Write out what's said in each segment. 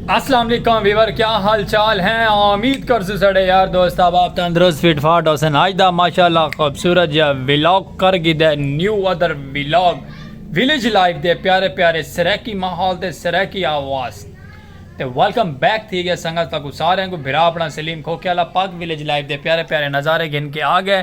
السلام علیکم ویور کیا حال چال ہیں امید کر سو سڑے یار دوست اب آپ تندرست فٹ فاٹ حسن آج دا ماشاءاللہ خوبصورت یا ویلاگ کر گی دے new other vlog village life دے پیارے پیارے سریکی ماحول تے سریکی آواز تے ویلکم بیک تھی گئے سنگت تکو سارے کو بھرا اپنا سلیم کھوکے والا پاک ویلیج لائف دے پیارے پیارے نظارے گھن کے آ گئے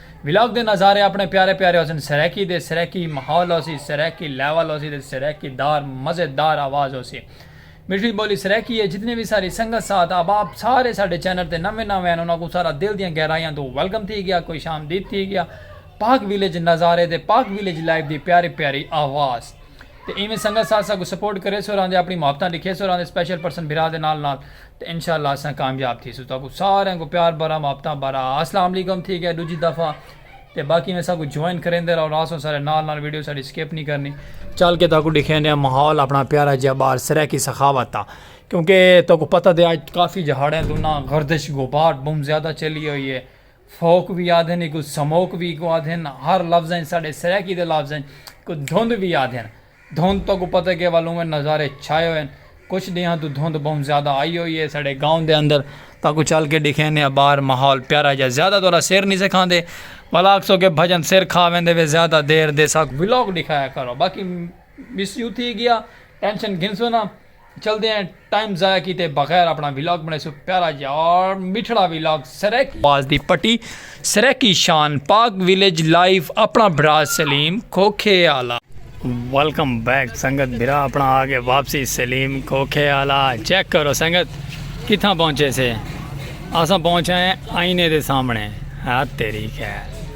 ولاگ دے نظارے اپنے پیارے پیارے ہوسن سرائیکی دے سرائیکی ماحول ہوسی سرائیکی لیول ہوسی تے سرائیکی دار مزے دار آواز ہوسی مٹھڑی بولی سرائیکی ہے جتنے وی ساری سنگت ساتھ احباب سارے ساڈے چینل تے نویں نویں ہن انہاں کوں سارا دل دیاں گہرائیاں توں ویلکم تھی گیا خوش آمدید تھی گیا پاک ویلیج نظارے تے پاک ویلیج لائیو دی پیاری پیاری آواز تے ایویں سنگت ساتھ ساکوں سپورٹ کریسو اور آندے اپنی محبتاں ڈکھیسو اور آندے سپیشل پرسن بھرا دے نال نال تے انشاءاللہ اساں کامیاب تھیسوں تاکوں ساریاں کوں پیار بھرا محبتاں بھرا اسلام علیکم تھی گیا ڈوجھی دفعہ تے باقی ایویں ساکوں جوائن کریندے راہو راہسوں سارے نال نال ویڈیو ساڈی سکپ نی کرنی۔ چل کے تاکوں ڈکھیندے آں ماحول اپنا پیارا جیہا باہر سرائیکی سخاوت دا کیونکہ تاکوں پتہ تے اج کافی جہاڑیاں توں نہ گردش غبار بہوں زیادہ چلی ہوئی ہے۔ سوک وی آدھن ایکوں سموک وی ایکوں آدھن ہر لفظ اچ ساڈے سرائیکی دے لفظ اچ ایکوں دھند وی آدھن دھند توں کو پتہ کے ول اوویں نظارے چھائے ہوئے کچھ ڈینہاں توں دھند بہوں زیادہ آئی ہوئی ہے ساڈے گاؤں دے اندر تاں کو چل کے ڈیکھینے آں باہر ماحول پیارا جا زیادہ تورا سر نی سے کھاندے ول آکھسو کے بھجن سر کھا ویندے وے زیادہ دیر دے ساکوں ولاگ ڈیکھایا کرو باقی مس یو تھی گیا ٹینشن گھنسو نا چلدے ہیں ٹائم ضائع کیتے بغیر اپنا ولاگ بنڑیسوں پیارا یار میٹھڑا ولاگ سرائیکی آواز دی پٹی سرائیکی شان پاک ویلیج لائیف اپنا بھرا سلیم کھوکھے آلا۔ ویلکم بیک سنگت بھرا اپنا آ گئے واپسی سلیم کھوکھے آلا چیک کرو سنگت کتھاں پہنچے سے اساں پہنچ آئے آئینے دے سامنے ہت تیری خیر۔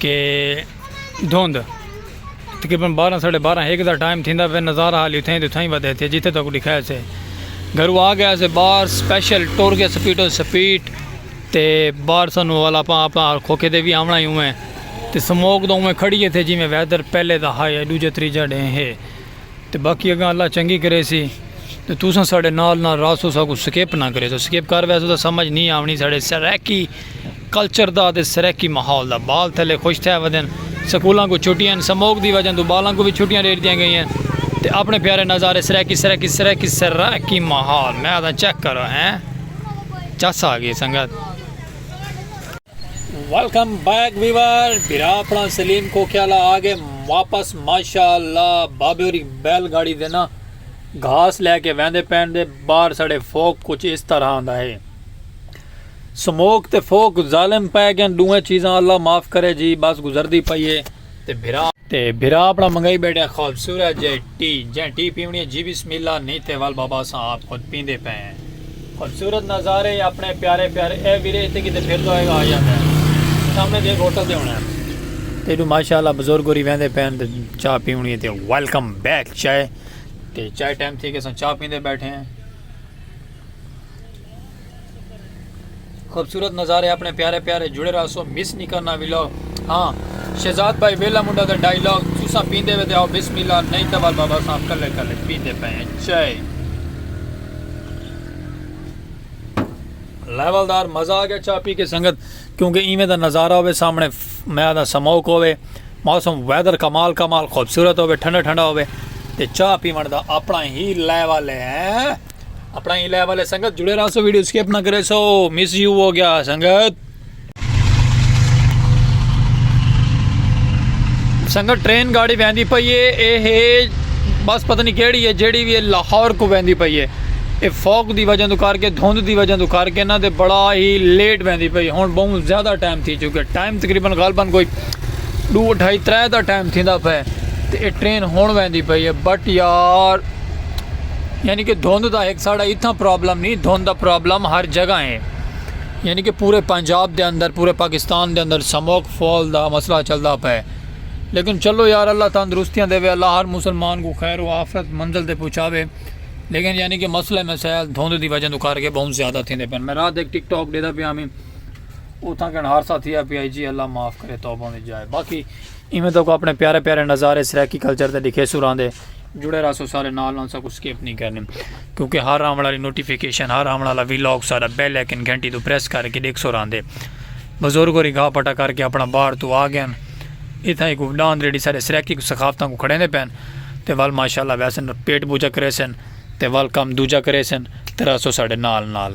کہ دھند تقریباً بارہ ساڑھے بارہ ہیک دا ٹائم تھیندا پہ نظارہ حالی اتھائیں تو اتھائیں ودے تھے جتھے تک ڈکھایا سے گھرو آ گیا سے بار سپیشل ٹور گیا سپیٹ و سپیٹ تے بار سنو والا پا پا کھوکے دے بھی آمنا ہی ہوئے تے سموک دا ہوئے کھڑی ہے تھے جی میں ویدر پہلے دا ہائے ہے دو جتری جڑیں ہے تے باقی اگاں اللہ چنگی کریسی تے تساں ساڈے نال نال راسو ساکوں سکپ نہ کریسو سکپ کر ویسو تے سمجھ نی آونی ساڈے سرائیکی کلچر دا تے سرائیکی ماحول دا بال تھلے خوش تھے ودن سکولاں کو چھٹیاں سموک دی وجہ توں بالاں کو وی چھٹیاں ڈے ڈتیاں گئیاں تے اپنے پیارے نظارے سرائیکی سرائیکی سرائیکی سرائیکی ماحول میں آدھاں چیک کرو ہیں چس آ گئی سنگت۔ ویلکم بیک ویور بھرا اپنا سلیم کوکیالا آگے واپس ماشاءاللہ بابے اور بیل گاڑی دینا گھاس لے کے ویندے پین دے بار سڑے فوک کچھ اس طرح آندہ ہے سموک تے فوک ظالم پہ گئن دوئے چیزاں اللہ معاف کرے جی بس گزر دی پئیے تے بھرا تے بھرا اپنا منگائی بیٹھے خوبصورت جے ٹی جیں ٹی پیونی ہے جی بسم اللہ نی تے ول بابا اساں آپ خود پیندے پئے ہیں خوبصورت نظارے اپنے پیارے پیارے اے ویرے اتے کیتے پھر دا ہوئے آیا میں سامنے دے ہوٹل دے ہونا ہے تے ڈو ماشاءاللہ بزرگ ہوری ویندے پئے ہیں چاہ پیونی ہے تے ویلکم بیک چائے تے چائے ٹائم تھی کہ اساں چاہ پیندے بیٹھے ہیں خوبصورت نظارے اپنے پیارے پیارے جڑے راسو مس نہیں کرنا ویلو ہاں شہزاد بھائی ویلا منڈا دا ڈائیلاگ تسا پیندے وے آؤ بسم اللہ نہیں تو بابا صاحب کلے کلے پیندے پے ہیں چائے لیول دار مزہ آ گیا چاہ پی کے سنگت کیونکہ ایویں دا نظارہ ہوئے سامنے میں دا سموک ہوئے موسم ویدر کمال کمال خوبصورت ہوئے ٹھنڈا ٹھنڈا ہوئے تے چاہ پیون دا اپنا ہی لیول ہے اپنا ہی لیول ہے سنگت جڑے رہا سو ویڈیو سکپ نہ کرے سو مس یو ہو گیا سنگت سنگت ٹرین گاڑی ویندی پئی ہے اے ہے بس پتہ نہیں کیڑی ہے جیڑی بھی لاہور کو ویندی پئی ہے اے فوک دی وجہ تو کر کے دھند دی وجہ تو کر کے نہ تے بڑا ہی لیٹ ویندی پئی ہن بہت زیادہ ٹائم تھی چکے ٹائم تقریبا غالبا کوئی دو ڈھائی ترے دا ٹائم تھیندا پے تے اے ٹرین ہن ویندی پئی ہے بٹ یار یعنی کہ دھند دا ہک ساڑا اتھاں پرابلم نہیں دھند دا پرابلم ہر جگہ ہے یعنی کہ پورے پنجاب دے اندر پورے پاکستان دے اندر سموک فال دا مسئلہ چلدا پے لیکن چلو یار اللہ تندرستیاں دے وے اللہ ہر مسلمان کو خیر و آفرت منزل دے پہنچاوے لیکن یعنی کہ مسئلہ مسائل دھند دی وجہ تو کر کے بہت زیادہ تھے دے پن میں رات ایک ٹک ٹاک دے دا پیا میں اتھاں کن ہر ساتھ ہی پی آئی جی اللہ معاف کرے توبہ دی جائے باقی ایویں تو کو اپنے پیارے پیارے نظارے سرائیکی کلچر دے دکھے سوران دے جڑے رہسو سارے نال نال ساکوں سکپ نی کرنی کیونکہ ہر آون آلی نوٹیفیکیشن ہر آون آلا وی لاگ ساڈا بیل آئیکن گھنٹی توں پریس کر کے ڈیکھ سوراندے بزرگ ہوری گھا پٹا کر کے اپنا باہر توں آ گئن اتھاں ہی کوئی ڈاند ریڈی سارے سرائیکی کو ثقافتاں کو کھڑیندے پین تے ول ماشاءاللہ ویسن پٹ بوجا کریسن تے ول کم دوجا کریسن تے رہسو ساڈے نال نال۔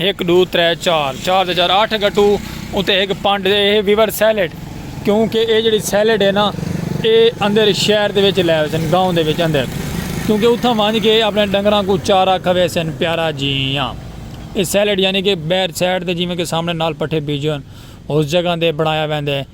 ہک ݙو ترے چار چار تے چار اٹھ گٹو اتے ہک پنڈ دے اے ویور سیلڈ کیوں کہ اے جڑی سیلڈ اے نا اے اندر شہر دے وچ لے ویسن گاؤں دے وچ اندر کیوں کہ اتھاں ونج کے اپنے ڈنگراں کوں چارہ کھویسن پیارا جیاں اے سیلڈ یعنی کہ بیر سائیڈ تے جیویں کہ سامنے نال پٹھے بیجے ہن اس جگہ دے بنایا ویندے۔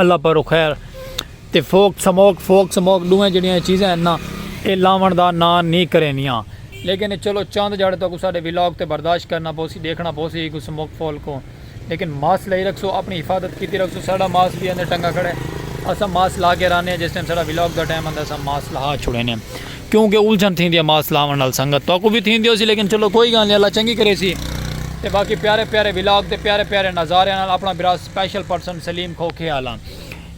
اللہ پر خیر تے فوک سموک فوک سموک ڈویں جڑیاں چیزیں ہیں نا اے لاون دا نا نی کرینیاں لیکن چلو چند جاڑے تو کو ساڈے ویلاگ تے برداشت کرنا پوسی ڈیکھنا پوسی کو سموک فول کو لیکن ماس لئی رکھ سو اپنی حفاظت کیتی رکھ سو ساڈا ماس بھی اندے ٹنگا کھڑے اسا ماس لا کے رانے جس ٹائم ساڈا ویلاگ دا ٹائم اندا سا ماس لہا چھوڑے نے۔ کیوں کہ الجھن تھیندی ہے ماسک لاون نال سنگت تہاکوں وی تھیندی ہوسی لیکن چلو کوئی گالھ نی اللہ چنگی کریسی تے باقی پیارے پیارے ولاگ تے پیارے پیارے نظاریاں نال اپنا برا سپیشل پرسن سلیم کھوکھے آلا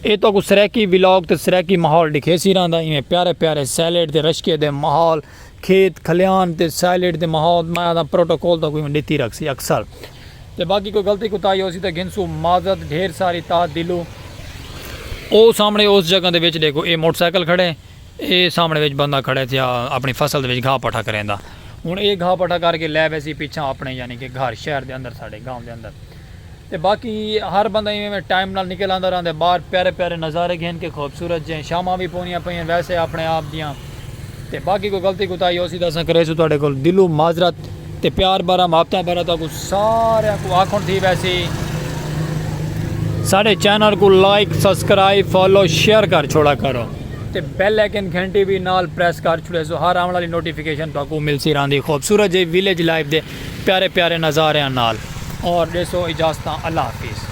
اے تہاکوں سرائیکی ولاگ تے سرائیکی ماحول ڈکھیسی رہندا ایویں پیارے پیارے سیلیڈ تے رشکے دے ماحول کھیت کھلیان تے سیلیڈ دے ماحول میں آدھاں پروٹوکول تہاکوں ایویں ڈتی رکھسی اکثر تے باقی کوئی غلطی کوتاہی ہوسی تے گھنسو معذرت ڈھیر ساری تاہ دلوں او سامنے اس جگہ دے وچ ڈیکھو اے موٹر سائیکل کھڑے اے سامݨے وچ بندہ کھڑے تھیا اپݨی فصل دے وچ گھاہ پٹھا کریندا۔ ہݨ اے گھاہ پٹھا کر کے لے ویسی پچھاں اپݨے یعنی کہ گھر شہر دے اندر ساݙے گاؤں دے اندر۔ تے باقی ہر بندہ ایویں ایویں ٹائم نال نکل آندا رہندے باہر پیارے پیارے نظارے گھن کے خوبصورت جئیں شاماں وی پوندیاں پئیاں ویسے اپݨے آپ دیاں۔ تے باقی کوئی غلطی کوتاہی ہوسی تاں اساں کریسوں تہاݙے کول دلوں معذرت۔ تے پیار بھرا محبتاں بھرا تہاکوں ساریاں کوں آکھن تھی ویسی ساڈے چینل کوں لائک سبسکرائب فالو شیئر کر چھوڑا کرو تے بیل آئیکن گھنٹی وی نال پریس کر چھوڑے سو ہر آون والی نوٹیفیکیشن تہاکوں ملسی راہندی خوبصورت جئی ویلیج لائف دے پیارے پیارے نظاریاں نال اور ڈیسو اجازتاں اللہ حافظ۔